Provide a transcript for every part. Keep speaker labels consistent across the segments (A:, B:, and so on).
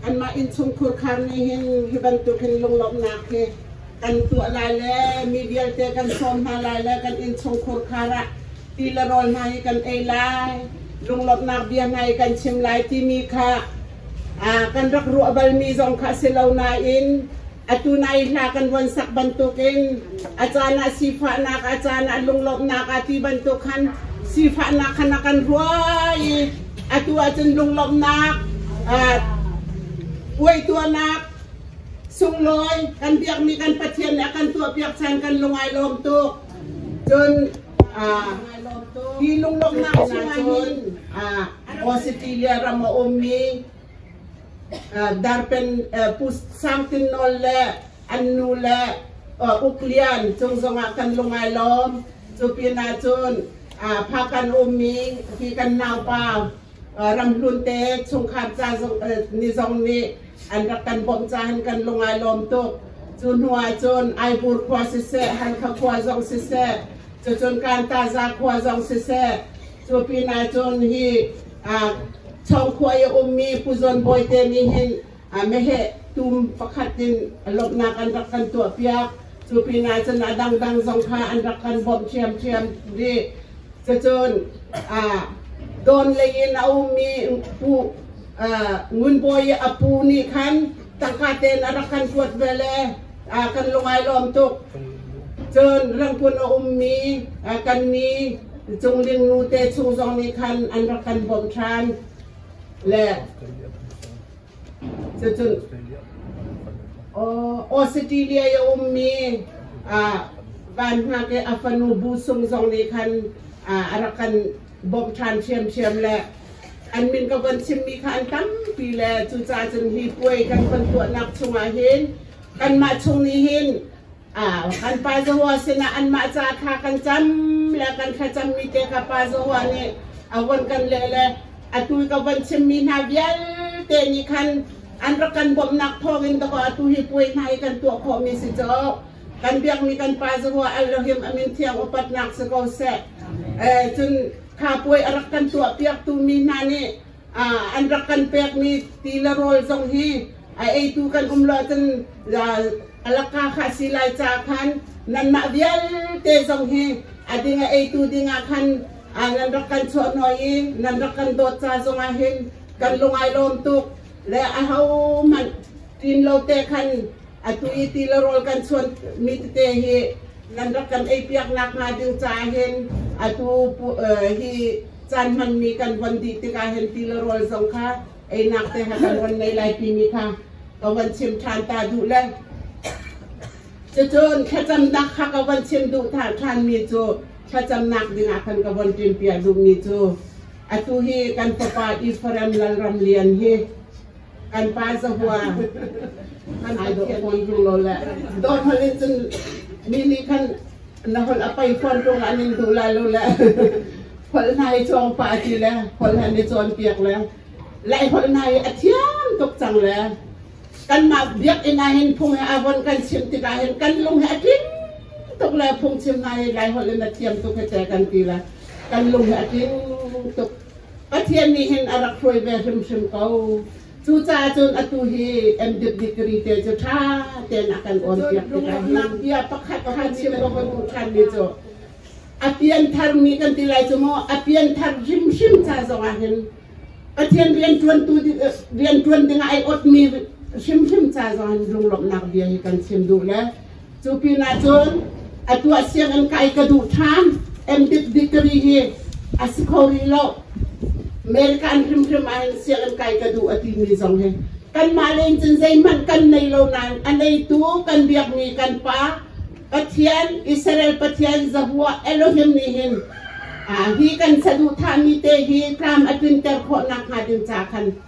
A: Anmah innchungkhur khar nih hin hi bantuk hin lunglawmhnak hi kan tuah lai le mi vialte kan sawm hna lai le kan innchungkhur khar ah ti le rawl hna hi kan ei lai lunglawmhnak bia hna hi kan chim lai timi kha kan rak ruah balmi zong kha si lo nain Atu nai hla kan ruan sak bantukin a caan ah sifahnak, a caan ah lunglawmhnak a ti bantuk khan sifahnak khan a kan ruai i atu ahcun lunglawmhnak, uaituanak, sunglawi kan biakmi kan Pathian nih a kan tuahpiak chan kan lungai lawm tuk. Cun hi lunglawmhnak chung ahhin Australia ram a ummi Sangtin Nawl le an nu le Uk Lian cung zongah kan lung ai lawm. Cu pinah cun Phakan ummi hi kan naupa Ramhlun te chungkhar ca ni zong nih an rak kan bawmh caah kan lung ai lawm tuk. Cu hnu ah cun Aihbur khua siseh, Halkha khua zong siseh, cucun Kanta-za khua zong siseh, Cu pinah cun hi chawngkhua i a ummi Pu Zawn Bawite nih hin meheh tum pakhat in lawmhnak an rak kan tuahpiak. Cu pinah cun a dangdang zong kha an rak kan bawmh ṭhiamṭhiam rih. Cucun Dawn lei in a ummi Pu Ngun Bawi a pu nih khan tangka ten a rak kan kuat ve le a kan lung ai lawm tuk cun rangpun a ummi kan ni cungling nu te chung zong nih khan an rak kan bawm ṭhan le cucun Australia a ummi van hna ke a fanu bu sung zong nih khan a rak kan bawmh ṭhan ṭhiamṭhiam le an min ka von chimmi kha an tampi le cucaah cun hi puai kan von tuahnak chungah hin kanmah chung nih hin kan pa Zahua sinah anmah ca kha kan cam le kan thlacammi te ka pa Zahua nih a von kan leh le atu ka von chimmi hna vialte nih khan an rak kan bawmhnak thawngin dakaw atu hi puai hna hi kan tuah khawhmi si cu kan biakmi kan pa zarua Elohim amin thiang upatnak si ko seh. Eh, cun kha puai a rak kan tuahpiaktu mi hna nih an rak kan pekmi tila rawl zong hi a eitu kan um lo cun alaka kha si lai ca khan nanmah vialte zong hi a dinga eitu dingah khan nan rak kan chuah noi i nan rak kan dawt ca zongah hin kan lungai lawm tuk le a ho hmanh Tin lo te khan atu i ti le rawl kan chuan mi tete hi nan rak kan ei piak nak hnga ding ca hin atu hi caan hman mi kan von dih tikah hin ti le rawl zong kha einak te ha kan von nei lai pi mi kha ka von chim ṭhan ta duh le cucun thlacamnak kha ka von chim duh ta ṭhan mi cu thlacamnak dingah khan ka von ṭim pia duh mi cu atu hi kan tupa Ephraim lalram lian hi kan pa zahua kan ai dawh pon tung lo le dawt han in cun mi nih khan na hol a pai pon tung an in duh la lo le hol nai chong pa ti le hol han i cawn piak le lai hol nai a thiam tuk cang le kan ma biak ina hin phung he avon kan chim tikah hin kan lung he a tling tuk le phung chim na hi lai hol in a thiam tuk he te kan ti le kan lung he a tling tuk Pathian nih hin a rak hruai ve hrimhrim ko. Cucaah cun atu hi MDiv degree te cu ṭha tein a kan awn piak tikah nak bia pakhat kha chim ka voi hmuh ṭhanmi cu a pianthar nih kan ti lai cu maw a pianthar hrimhrim ca zongah hin Pathian rianṭuantu rianṭuan dingah ai ot mi hrimhrim ca zongah lunglawmhnak bia hi kan chim duh le Cu pinah cun atu ah sianginn kai ka duh ṭhan. MDic degree hi a si kho rih lo. American hrimhrim ah hin sianginn kai ka duh a timi zong hi kanmah le in cun zeihmanh kan nei lo nain a neitu kan biakmi kan pa Pathian, Israel Pathian Zahua Elohim nih hin ah hi kan saduhthahmi te hi tlam a tlinter khawh nakhnga ding ca khan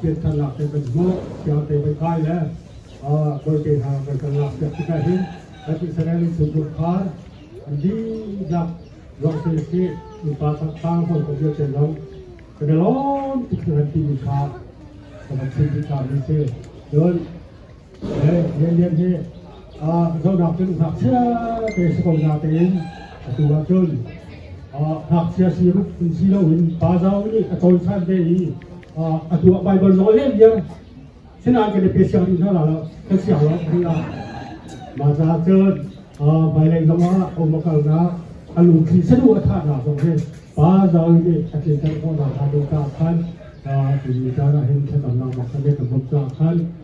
A: piahthannak te kan hmuh, siang te kan kai le bawite hna piahthannak piak tikah hin kan ti sanai lung chung kum kha dihlak ruang se se innpa saksang hol kan bia chen long ka de lon tik kan ti mi kha kan sim ti ta mi se cun Lianlian hi zohnak cun ngakchia te si ko na tein atu ah cun ngakchia si rup si loin pa zau nih a cawnsan te i a tuah Baibal nawl lianlian sinan kan pe siang ding hna la kan siang lo kan la ma za cun hmailei zongah a um kalnak a lungthli sadu a thah hna zong hi pa zau nih a tlinter khawh hna khan ding ka khan tuni caan ah hin thlacamnak mak kan kan buk ka khan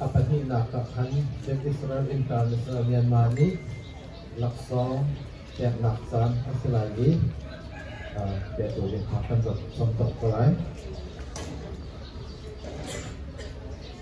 A: A pahnihnak ah khan Israel innka Israel Myanmar nih laksawng peknak caan a si lai i petu innka kan cawmcawk ko lai.